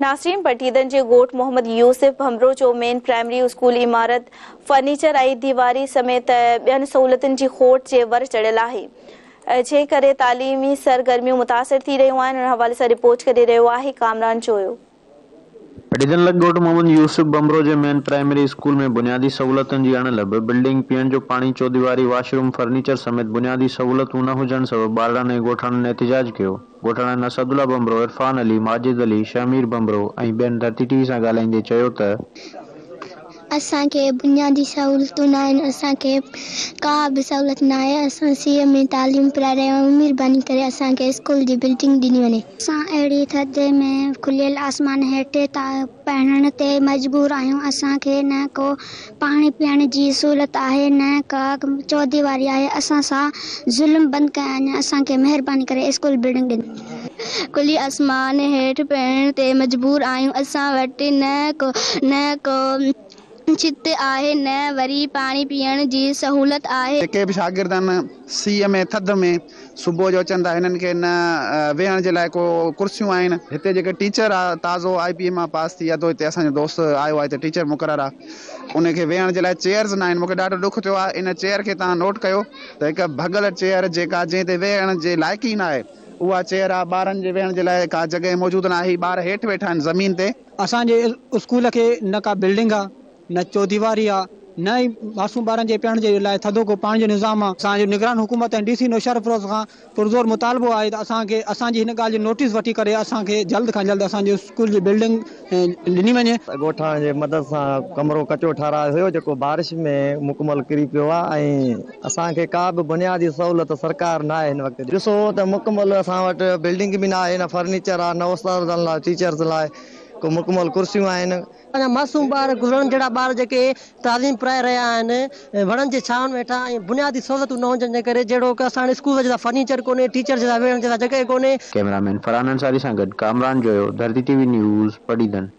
ناسرين پٽيدن جي ڳوٺ محمد يوسف ڀنڀرو جو مين پرائمري اسڪول عمارت، فرنيچر ۽ ديواري سميت ٻين سهولتن جي کوٽ جي ور چڙهيل آهي، جنهن ڪري تعليمي سرگرميون متاثر ٿي رهيون آهن، ان حوالي سان رپورٽ ڪري رهيو آهي ڪامران جويو. پٽيدن لڳ ڳوٺ محمد يوسف ڀنڀرو جي مين پرائمري اسڪول ۾ بنيادي سهولتن جي اڻ لڀ، بلڊنگ، پيئڻ جو پاڻي، چوديواري، واش روم، فرنيچر سميت بنيادي سهولتون نه هجڻ سبب ٻارڙن ۽ ڳوٺاڻن احتجاج ڪيو. ڳوٺاڻن اسدالله ڀنڀرو، عرفان علي، ماجد علي، شهمير ڀنڀرو ۽ ٻين ڌرتي ٽي وي سان ڳالهائيندي چيو ته، اسان کي بنيادي سهولتون ناهن، اسان کي ڪا به سهولت ناهي، اسان سيء ۾ تعليم پرائي رهيا آهيون، مهرباني ڪري اسان کي اسڪول جي بلڊنگ ڏني وڃي. اسان اهڙي ٿڌي ۾ کليل آسمان هيٺ پهڻ تي مجبور آهيون، اسان کي نه ڪو پاڻي پيئڻ جي سهولت آهي نه ڪا چوديواري آهي اسان سان ظلم بند ڪيائين اسان کي مهرباني ڪري اسڪول بلڊنگ ڏين. کلي آسمان هيٺ پيئڻ تي مجبور آهيون اسان وٽ نه ڪو نه ڪو ڇت آهي نه وري پاڻي پيئڻ جي سهولت آهي. جيڪي به شاگرد ان سيء ۾ ٿڌ ۾. صبح جو اچن ٿا هنن کي نه ويهڻ جي لاء ڪو ڪرسيون آهن هتي جيڪي ٽيچر آ تازو آء پي اي مان پاس ٿي ادو هتي اسان جو دوست آيو آ هتي ٽيچر مقرر آ ان کي ويهڻ جي لاء چيئرز ناهن مونکي ڏاڍو ڏک ٿيو آ ان چيئر کي توهان نوٽ ڪيو ته هڪ ڀڳل چيئر جيڪا جنهن تي ويهڻ جي لائق ئي ناهي اها چيئر آ ٻارن جي ويهڻ جي لاء ڪا جڳهه موجود ناهي ٻار هيٺ ويٺا آهن زمين تي. اسان جي اسڪول کي نه ڪا بلڊنگ آ نه چوديواري آ، نه ئي معصوم ٻارن جي پيئڻ جي لاء ٿڌو ڪو پاڻي جو نظام آ. اسان جو نگران حڪومت ۽ ڊي سي نوشهرفروز کان پرزور مطالبو آهي ته اسان کي اسان جي هن ڳالهه جو نوٽيس وٺي ڪري اسان کي جلد کان جلد اسان جي اسڪول جي بلڊنگ ڏني وڃي. ڳوٺاڻن جي مدد سان ڪمرو ڪچو ٺهرايو هيو جيڪو بارش ۾ مڪمل ڪري پيو آ ۽ اسان کي ڪا به بنيادي سهولت سرڪار ناهي هن وقت ڏني. ڏسو ته مڪمل اسان وٽ بلڊنگ به ناهي نه فرنيچر آ نه استادن لاء ٽيچرز لاء ڪو مڪمل ڪرسيون آهن. اڃا معصوم ٻار، گذرڻ جهڙا ٻار جيڪي تعليم پرائي رهيا آهن، وڻن جي ڇانو هيٺان ۽ بنيادي سهولتون نه هجڻ جي ڪري جهڙوڪ اسان وٽ اسڪول جيسا فرنيچر ڪونهي، ٽيچرز جيسا ويهڻ جيسا جڳهه ڪونهي. ڪئميرا مين فرحان انصاري سان گڏ Kamran Joyo, Dharti T V news, Padidan.